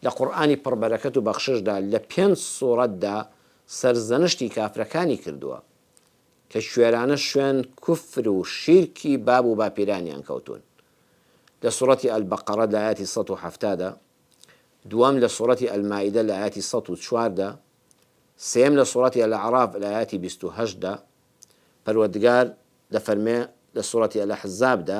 لە قورئانی پڕ بەرەکەت و بەخششدا لە پێنج سوڕەتدا سەرزەنشتی کافرەکانی کردووە کە کوێرانە شوێن کوفر و شیرکی باب و باپیرانیان کەوتوون لە سوڕەتی البقرە لە ئایەتی سەد و حەفتا دا دووەم لە سوڕەتی المائدە لە ئایەتی سەد و چوار دا سێم لە سوڕەتی الاعراف لە ئایەتی بیست و هەشت دا پەروەردگار دەفەرمێ لە سوڕەتی الاحزاب دا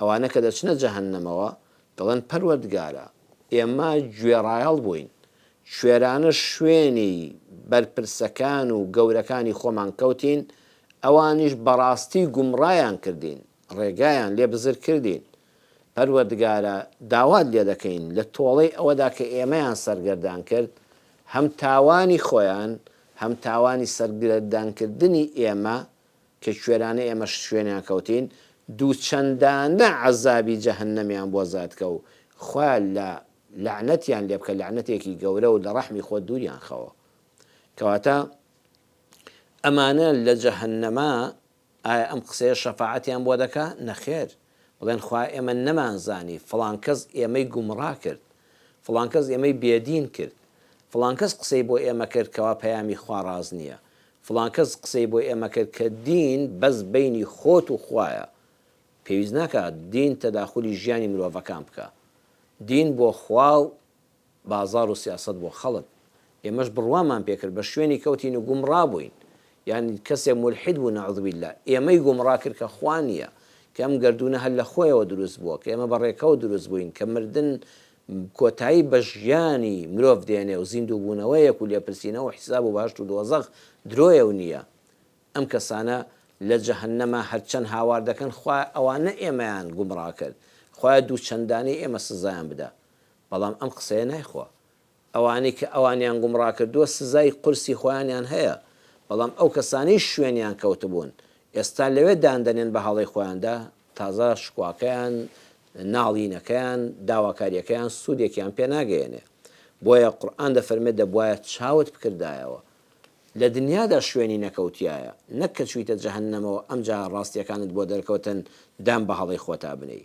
ئەوانە کە دەچنە جەهەننەمەوە دەڵێن، پەروەردگارە، ئێمە گوێڕایەڵ بووین، کوێرانە شوێنی بەرپرسەکان و گەورەکانی خۆمان کەوتین، ئەوانیش بەڕاستی گومڕایان کردین، ڕێگایان لێ بزر کردین. پەروەردگارە، داوات لێ دەکەین لە تۆڵەی ئەوەدا کە ئێمەیان سەرگەردان کرد، هەم تاوانی خۆیان، هەم تاوانی سەرگردانکردنی ئێمە کە کوێرانە ئێمەش شوێنیان کەوتین دوو چەندانە عەزابی جەهەنەمیان بۆ زادکە و خوا لە لەعنەتیان لێ بکە لەعنەتێکی گەورە و لە ڕەحمی خۆت دووریان خەوە کەواتە ئەمانە لە جەهەنەما ئایا ئەم قسەیە شەفاعەتیان بۆ دەکا نەخێر بڵێن خوا ئێمە نەمانزانی، فڵان کەس ئێمەی گومڕا کرد، فڵان کەس ئێمەی بێدین کرد، فڵان کەس قسەی بۆ ئێمە کرد کەوا پەیامی خوا ڕاست نییە، فڵان کەس قسەی بۆ ئێمە کرد کە دین بەس بەینی خۆت و خوایە، پێویست ناکا دین تەداخولی ژیانی مرۆڤەکان بکا، دین بۆ خوا و بازار و سیاسەت بۆ خەڵک ئێمەش بڕوامان پێکرد بە شوێنی کەوتین و گومڕا بووین یان کەسێ مولحید بوو نعوذباللە ئێمەی گومڕا کرد کە خوا نییە کە ئەم گەردوونە هەر لە خۆیەوە دروست بووە کە ئێمە بە ڕێکەوت دروست بووین کە مردن کۆتایی بە ژیانی مرۆڤ دێنێ و زیندوو بوونەوەیەک و لێپرسینەوە و حیساب و بەهەشت و دۆزەخ درۆیە و نییە ئەم کەسانە لە جەهەنەمە هەر چەند هاوار دەکەن خوایە ئەوانە ئێمەیان گومڕا کرد خوایە دوو چەندانەی ئێمە سزایان بدە بەڵام ئەم قسەیە نایخوا. ئەوانەی کە ئەوانیان گومڕا کردووە سزای قورسی خۆیانیان هەیە، بەڵام ئەو کەسانەی شوێنیان کەوتبوون، ئێستا لەوێ دان دەنێن بە هەڵەی خۆیاندا، تازە شکواکەیان، ناڵینەکەیان، داواکارییەکەیان سوودێکیان پێ ناگەیەنێ. بۆیە قورئان دەفەرمێ دەبوایە چاوت بکردایەوە لە دنیادا شوێنی نەکەوتیایە، نەک کە چوویتە جەهەننەمەوە ئەمجا ڕاستییەکانت بۆ دەرکەوتن دان بە هەڵەی خۆتا بنێی.